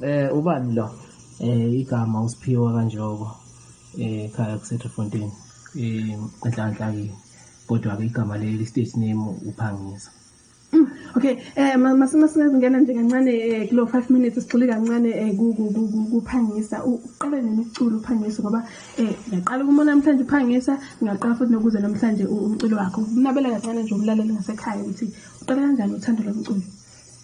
Eh ubani lo? Eh igama usiphiwa kanjoko eh khaya kuseTrefontein. Eh enhlanhla ke kodwa ke igama leli state name uphangisa. Mm, okay eh masima singena nje kancane eh, kulo 5 minutes sigxile kancane eh, kuphangisa uqale nemiculo uphangisa ngoba eh ngiyaqala ukuma namhlanje uphangisa ngiyaqala futhi nokuze namhlanje umculo wakho unabela kancane nje umlaleli ngasekhaya ukuthi uqale kanjani uthando lomculo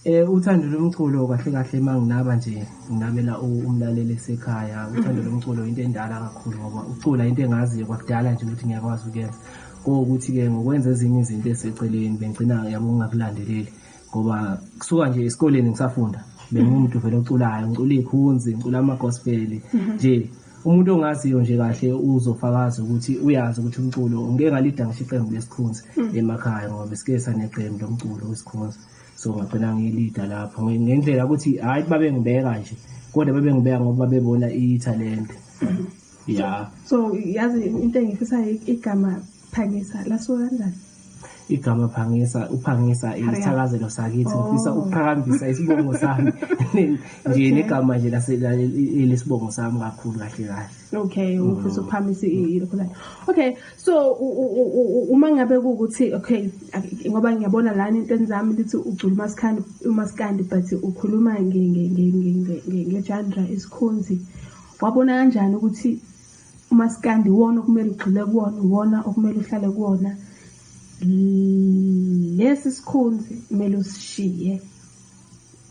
Eh uthando lomculo kahle kahle manginaba nje nginabela umlaleli esekhaya uthando lomculo into endala kakhulu ngoba ucula into engaziyo kwakudala nje ukuthi ngiyakwazi ukuyenza kokuthi ke ngokwenza ezinye izinto eseceleni bengcina yabo ngingakulandeleli ngoba kusuka nje esikoleni ngisafunda bengimuntu vele oculayo ngicula ikhunzi ngicula ama gospel mhm. nje umuntu ongaziyo nje kahle uzofakaza ukuthi uyazi ukuthi umculo ngeke ngalida ngisho iqembu lesikhunzi mhm. emakhaya ngoba sike saneqembu lomculo wesikhunzi so ngagcina ngiyilida lapho ngendlela ukuthi hhayi babengibeka nje kodwa babengibeka ngoba babebona ithalente ya so yazi into engifisayo igama phangisa lasuka kanjani igama phangisa uphangisa isithakazelo sakithi oh. ngifisa ukuqhakambisa isibongo sami nje negama nje lesibongo sami kakhulu kahle kahle okay ufisa mm. ukuphambisa ilokho okay so uma ngabe kuwukuthi okay ngoba ngiyabona lana entweni zami lithi ugcula umasikandi umasikandi but ukhuluma ngejandra isikhonzi wabona kanjani ukuthi umasikandi iwona okumele ugxile kuwona iwona okumele uhlale kuwona lesi sikhonzi kumele usishiye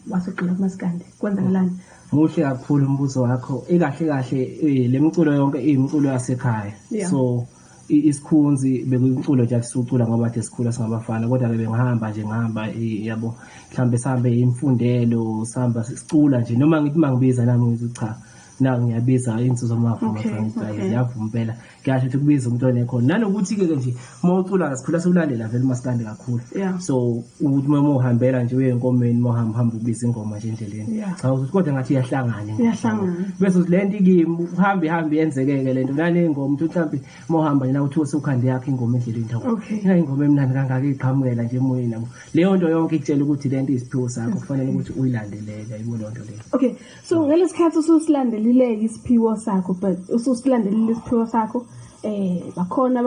wasugxila kumaskandi kwenzakalani muhle kakhulu umbuzo wakho ikahle kahle eh, le miculo yonke iyimculo yasekhaya yeah. so isikhunzi bekuyimculo nje akusucula ngoba nje sikhula singabafana kodwa ke bengihamba nje ngihamba eh, yabo mhlambe sihambe imfundelo sihamba sicula nje noma ngithi mangibiza nami ngithi cha na ngiyabiza insizwa mavuma okay, fanele okay. ngiyavuma impela kuyasho ukuthi kubiza umuntu onekhona nanokuthi ke nje uma ucula ngasikhula siwulandela vele umaskandi kakhulu yeah. so ukuthi uma uhambela nje uye enkomeni uma uhamba hamba ubiza ingoma nje endleleni yeah. cha ukuthi kodwa ngathi iyahlangana iyahlangana bese uthi lento ikimi uhambe hambe yenzekeke lento nale ingoma uthi mhlambi uma uhamba nina uthi usukhande yakhe ingoma endleleni thawu okay. ina ingoma emnandi kangaka iqhamukela nje emoyeni nabo leyo nto yonke ikutshela ukuthi lento iziphiwo sakho kufanele ukuthi uyilandelele ayibona lento leyo okay so ngalesikhathi ususilandelileke isiphiwo sakho but ususilandelile isiphiwo sakho eh bakhona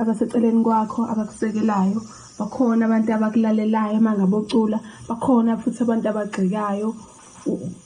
abaseceleni kwakho abakusekelayo bakhona abantu abakulalelayo mangabe ucula bakhona futhi abantu abagxekayo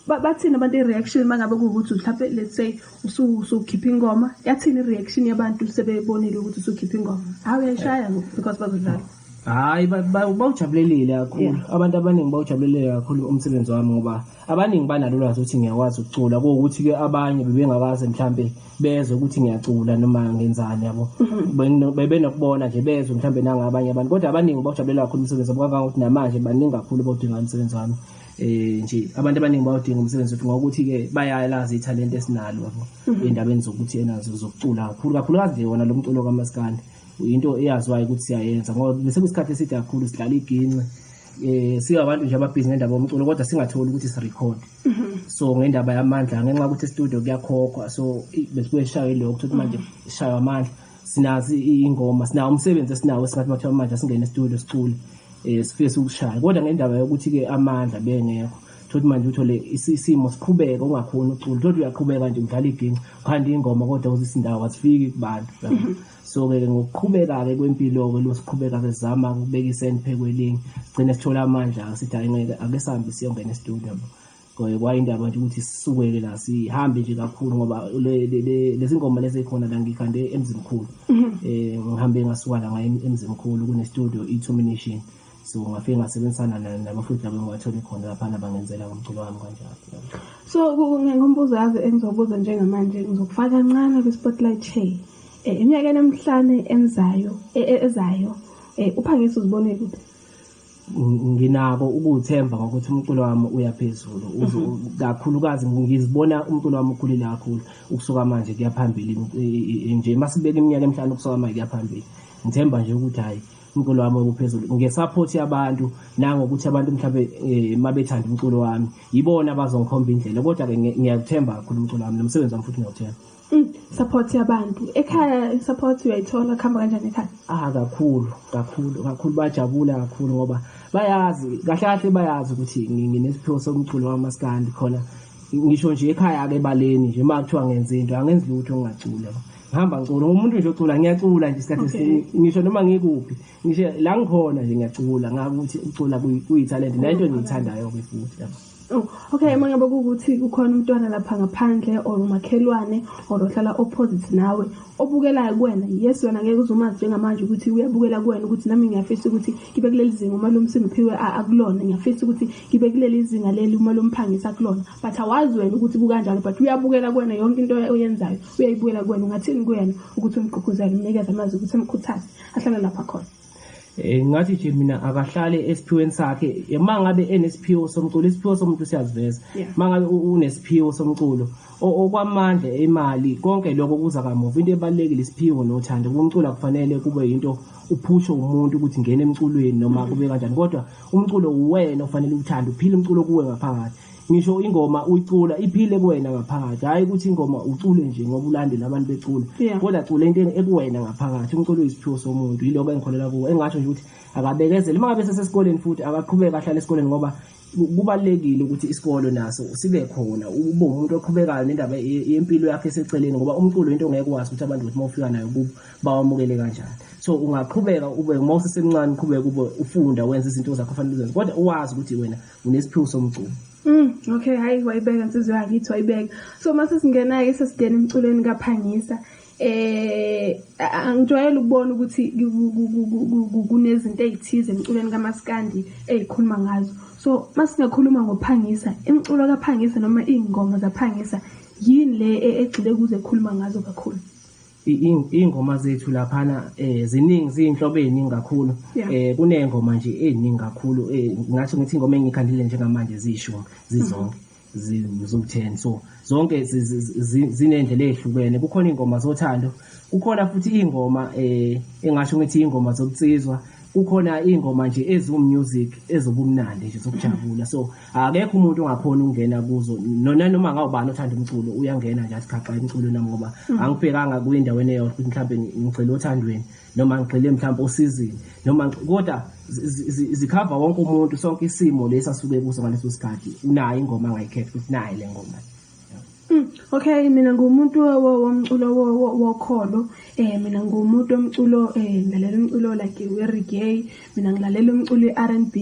bathini abantu i-reaction uma ngabe kuwukuthi mhlawumpe let's say usukhipha ingoma yathini i-reaction yabantu sebebonile ukuthi usukhipha ingoma hawu yayishaya ngoku because bazodlala Hayi bawujabulelile kakhulu abantu abaningi bawujabulelile kakhulu umsebenzi wami ngoba abaningi banalo lwazi ukuthi ngiyakwazi ukucula kuwukuthi ke abanye bebengakaze mhlambe bezwe ukuthi ngiyacula noma ngenzani yabo mhm. bebenokubona nje bezwe mhlambe nangabanye abantu kodwa abaningi bawujabulela kakhulu umsebenzi wami kangangokuthi namanje baningi kakhulu bawudinga umsebenzi wami eh nje abantu abaningi bawudinga umsebenzi wethu ngokuthi ke bayalazi ithalente esinalo yabo mhm. endabeni zokuthi enazo zokucula kakhulu kakhulu kazi wona lo mculo kamaskandi into eyaziwayo ukuthi siyayenza ngoba besekusikhathi eside kakhulu sidlala iginci eh singabantu nje ababhizi ngendaba yomculo kodwa singatholi ukuthi sirecord mhm. so ngendaba yamandla ngenxa ukuthi studio kuyakhokhwa so besibeshaye lokho ukuthi manje mhm. shaywa amandla sinazi ingoma sinawo umsebenzi esinawo esingathi mathiwa manje singene studio sicule eh sifisa ukushaya kodwa ngendaba yokuthi ke amandla bengekho thothi manje uthole isimo siqhubeka ungakhona ucula thothi uyaqhubeka nje udlala iginci khanda ingoma kodwa uzisindawo azifiki kubantu so-ke ngokuqhubeka-ke kwempilo-ke lo siqhubeka-ke sizama ukubeka iseni phekwelinye sigcine sithola amandla-ke sithi hayi ngeke ake sihambe siyongena estudio kwayindaba nje ukuthi sisuke-ke la sihambe nje kakhulu ngoba lezi ngoma lezi ekhona la ngikhande emzimkhulu um ngihambe ngasuka la ngaye emzimkhulu kunestudio i-termination so ngafike ngasebenzisana naye nabafundi labo engiwathole khona laphana bangenzela ngomculo wami kanjalo so ngombuzo yazi engizobuza njengamanje ngizokufaka kancane kwi-spotlight shay um eh, eminyakeni emihlane enzayo e, e, ezayo um uphangisa uzibone kuphi nginako ukuthemba ngokuthi umculo wami uyaphezulu mhm. kakhulukazi ngizibona umculo wami ukhulile kakhulu ukusuka manje kuyaphambili nje masibeka iminyaka emihlanu ukusuka manje kuyaphambili ngithemba nje ukuthi hayi umculo wami okuphezulu ngesupport yabantu nangokuthi abantu mhlawumbe eh, mabethanda umculo wami yibona abazongikhomba indlela kodwa ke ngiyakuthemba kakhulu umculo wami nomsebenzi wami futhi ngiyawuthemba mm, support yabantu ekhaya support uyayithola kuhamba kanjani ekhaya ah kakhulu kakhulu kakhulu bajabula kakhulu ngoba bayazi kahle kahle bayazi ukuthi nginesiphiwo somculo wamaskandi khona ngisho nje ekhaya-ke ebaleni nje uma kuthiwa ngenze into angenzi lutho ngingacula ngihamba ngicula umuntu nje ocula ngiyacula nje isikhathi esiningi ngisho noma ngikuphi ngisho la ngikhona nje ngiyacula ngakuthi ukucula kuyithalente nento engiyithandayo-ke futhi yabo Oh, okay uma ngabe ukuthi kukhona umntwana lapha ngaphandle or umakhelwane or ohlala opposite nawe obukelayo kuwena yes wena ngeke uzumazi njengamanje ukuthi uyabukela kuwena ukuthi nami ngiyafisa ukuthi ngibe kuleli zinga uma lomsindo phiwe akulona ngiyafisa ukuthi ngibe kuleli zinga leli uma lomphangisa kulona but awazi wena ukuthi kukanjalo but uyabukela kuwena yonke into oyenzayo uyayibukela kuwena ungathini kuyena ukuthi umgqugquzele umnikeze amazi ukuthi amkhuthaze ahlale lapha khona Eh ngathi nje mina akahlale esiphiweni sakhe uma ngabe enesiphiwo somculo isiphiwo somuntu siyaziveza uma ngabe unesiphiwo somculo okwamandla imali konke lokho kuza kamuva into ebalekile isiphiwo nothando kumcula kufanele kube into uphusho umuntu ukuthi ngene emculweni noma kube kanjani kodwa umculo uwena ofanele uthande uphile umculo kuwe ngaphakathi ngisho ingoma uyicula iphile kuwena ngaphakathi hayi ukuthi ingoma ucule nje ngoba ulandela abantu becula kodwa cula into ekuwena ngaphakathi umculo uyisiphiwo somuntu yiloko engikholela kuwo engasho nje ukuthi akabekezele uma ngabe sesesikoleni futhi akaqhubeke ahlale esikoleni ngoba kubalekile ukuthi isikole naso sibe khona ube umuntu oqhubekayo nendaba yempilo yakhe eseceleni ngoba umculo into ongeke wazi ukuthi abantu ukuthi mawufika nayo kubo bawamukele kanjani so ungaqhubeka ube uma usesemncane uqhubeka ube ufunda wenza izinto zakho fanele uzenze kodwa uwazi ukuthi wena unesiphiwo somculo Mm, okay, hayi wayibeka insizwe yakithi wayibeka. So mase singena ke sesidena emculweni kaphangisa. Eh angijwayele ukubona ukuthi kunezinto ezithize emculweni kamaskandi ezikhuluma ngazo. So masingakhuluma ngophangisa, imculo kaphangisa noma ingoma zaphangisa yini le e-, egxile kuze ekhuluma ngazo kakhulu? Iy'ngoma zethu laphana um ziningi ziyinhlobo ey'ningi kakhulu um kuney'ngoma nje ey'ningi kakhulu um ngingasho ngithi iy'ngoma engiy'khandile njengamanje ziyishumi zizonke ziwu-ten so zonke ziney'ndlela ey'hlukene kukhona iy'ngoma zothando kukhona futhi iy'ngoma um engasho ngithi iy'ngoma zobunsizwa kukhona iy'ngoma nje eziwu-music ezobumnandi nje zokujabula so akekho umuntu ongakhona ukungena kuzo nona noma ngawubani othanda umculo uyangena nje asikhaxa umculo nami ngoba mm. angibhekanga kwindaweni eyo ukuthi mhlawumbe ngigxile othandweni noma ngigxile mhlawumbe osizini noma kodwa zikhava wonke umuntu sonke isimo lesi asuke kuso ngaleso sikhathi unayo ingoma angayikhetha ukuthi nayi le ngoma Mm, okay mina ngumuntu womculo wokholo eh mina ngumuntu omculo eh ngilalela umculo like we reggae mina ngilalela umculo i-R&B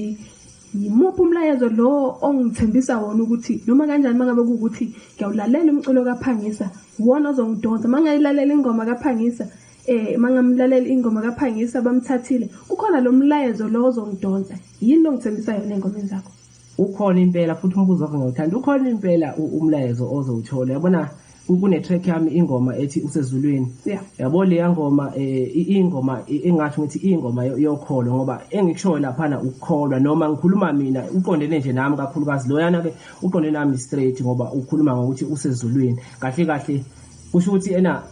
Yimuphi umlayezo lo ongithembisa wona ukuthi noma kanjani mangabe kuwukuthi ngiyawulalela umculo kaPhangisa wona ozongidonsa mangayilalela ingoma kaPhangisa eh mangamlalela ingoma kaPhangisa bamthathile kukhona lo mlayezo lo ozongidonsa yini ongithembisa yona engomeni zakho ukhona impela futhi umbuzo wakho ngiyawuthanda ukhona impela umlayezo ozowuthola yabona kune track yami ingoma ethi usezulwini yeah. yabo leya ngoma eh, ingoma engathi ngithi ingoma yokholo ngoba engikushoyo laphana ukukholwa noma ngikhuluma mina uqondene nje nami kakhulukazi loyana ke uqondene nami straight ngoba ukhuluma ngokuthi usezulwini kahle kahle kusho ukuthi ena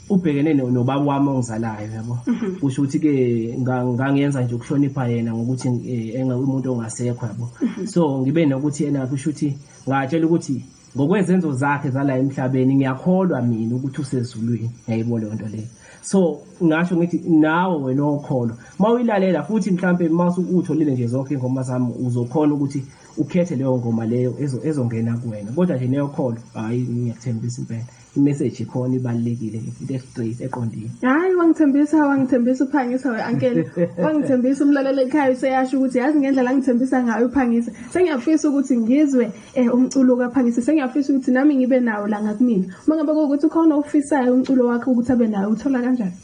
ubhekene nobaba wami ongizalayo yabo mhm. kusho ukuthi ke ngangenza nje ukuhlonipha yena ngokuthi eh, enga umuntu ongasekho yabo mhm. so ngibe nokuthi yena kusho ukuthi ngatshela ukuthi ngokwezenzo zakhe zala emhlabeni ngiyakholwa mina ukuthi usezulwini ngiyayibona leyo nto leyo so ngasho ngithi nawe wena okholwa uma uyilalela futhi mhlawumpe uma utholile nje zonke ingoma zami uzokhona ukuthi ukhethe leyo ngoma leyo ezongena kuwena kodwa nje neyokholwa hhayi ngiyakuthembisa impela imeseji khona ibalulekile into estraight eqondile hayi wangithembisa wangithembisa uphangisa we-ankele wangithembisa umlalelo ekhaya useyasho ukuthi yazi ngendlela angithembisa ngayo uphangisa sengiyafisa ukuthi ngizwe um umculo kaphangisa sengiyafisa ukuthi nami ngibe nawo la ngakumina uma ngabe kuwukuthi ukhona ofisayo umculo wakhe ukuthi abe nayo uthola kanjani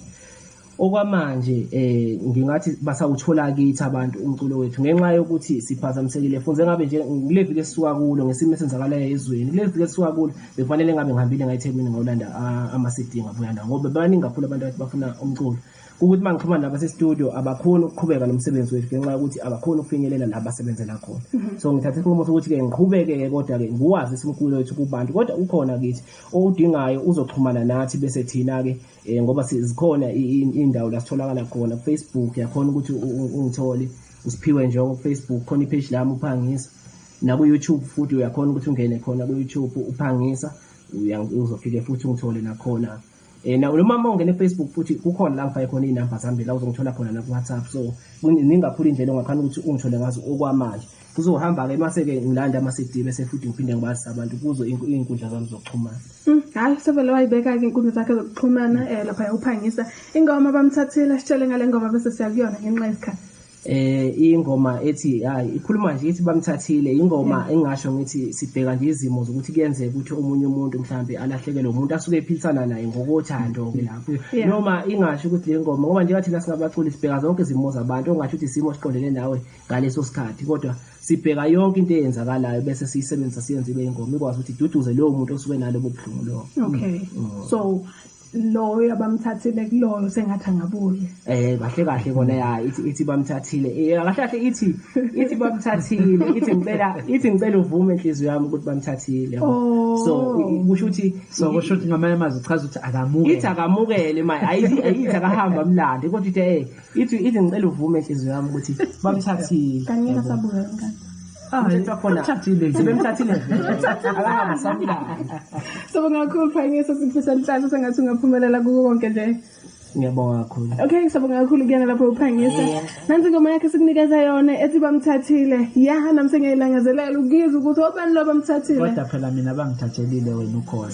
okwamanje eh ngingathi basawuthola kithi abantu umculo wethu ngenxa yokuthi siphazamisekile funze ngabe nje kuleviki esisuka kulo ngesimo esenzakalayo ezweni kuleviki esisuka kulo bekufanele ngabe ngihambile ngayiThekwini ngolanda ama-CD ngabuya nawo ngoba baningi kakhulu abantu abathi bafuna umculo ukuthi uma ngixhumana nabo sestudio abakhoni ukuqhubeka nomsebenzi wethu ngenxa yokuthi abakhoni ukufinyelela la basebenzela khona mhm. so ngithatha isinqumo sokuthi-ke ngiqhubeke-ke kodwa-ke ngiwazi isimkhulu wethu kubantu kodwa ukhona kithi owudingayo uzoxhumana nathi bese thina-ke um ngoba zikhona iy'ndawo la sitholakala khona kufacebook yakhona ukuthi ungithole usiphiwe njengo kufacebook khona ipheji lami uphangisa naku-youtube futhi uyakhona ukuthi ungene khona ku-youtube uphangisa uzofike futhi ungithole nakhona um noma uma ungene efacebook futhi kukhona la ngifake khona iy'namba zami la uzongithola khona naku-whatsapp so ningakhulu indlela ongakhani ukuthi ungithole ngazo okwamanje kuzohamba ke mase ke ngilanda ama CD bese futhi ngiphinde ngibazisa abantu kuzo izinkundla zami zokuxhumana mm, hayi sevele wayibeka ke inkundla zakhe zokuxhumana eh lapha yakuphangisa ingoma bamthathile sitshele ngale ngoma bese siyakuyona ngenxa yesikhathi eh ingoma ethi hayi ikhuluma nje ithi bamthathile ingoma engasho ngithi sibheka nje izimo zokuthi kuyenzeka ukuthi omunye umuntu mhlambe alahlekelwe umuntu asuke ephilisana naye ngokothando ke lapho noma ingasho ukuthi le ngoma ngoba njengathi singabaculi sibheka zonke izimo zabantu ongasho ukuthi isimo siqondene nawe ngaleso sikhathi kodwa sibheka yonke into eyenzakalayo bese siyisebenzisa siyenze ibe ingoma ikwazi ukuthi iduduze lowo muntu osuke nalobo buhlungu lowo okay mm. mm. so loyo abamthathile kuloyo sengathi angabuye eh kahle kahle kona ya ithi ithi bamthathile eh kahle kahle ithi ithi bamthathile ithi ngicela ithi ngicela uvume inhliziyo yami ukuthi bamthathile oh. so kusho ukuthi so kusho ukuthi ngamanye amazwi uchaza ukuthi akamukele ithi akamukele manje ayithi akahambe amlande kodwa ithi eh If you even ngicela uvume inhliziyo yami ukuthi bamthathile. Kanye kasabuya ngani? Ah, khona. Thathile. Sebemthathile. Akasamla. Sobangakhulu phanyisa sifisa inhlanhla sengathi ungaphumelela kuko konke nje. ngiyabonga kakhulu okay ngisabonga kakhulu kuyena lapho uphangisa nansi ingoma yakhe sikunikeza yona ethi bamthathile yaha nami sengiyayilangazelela ukuyizwa ukuthi obani lo bamthathile kodwa phela mina bangithathelile wena ukhona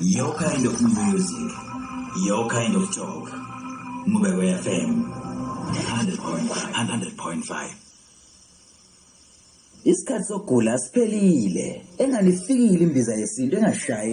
Your kind of music, your kind of talk. Mubeko FM 100.5. Isikhathi sokugula siphelile. Engalifikile imbiza yesintu engashayi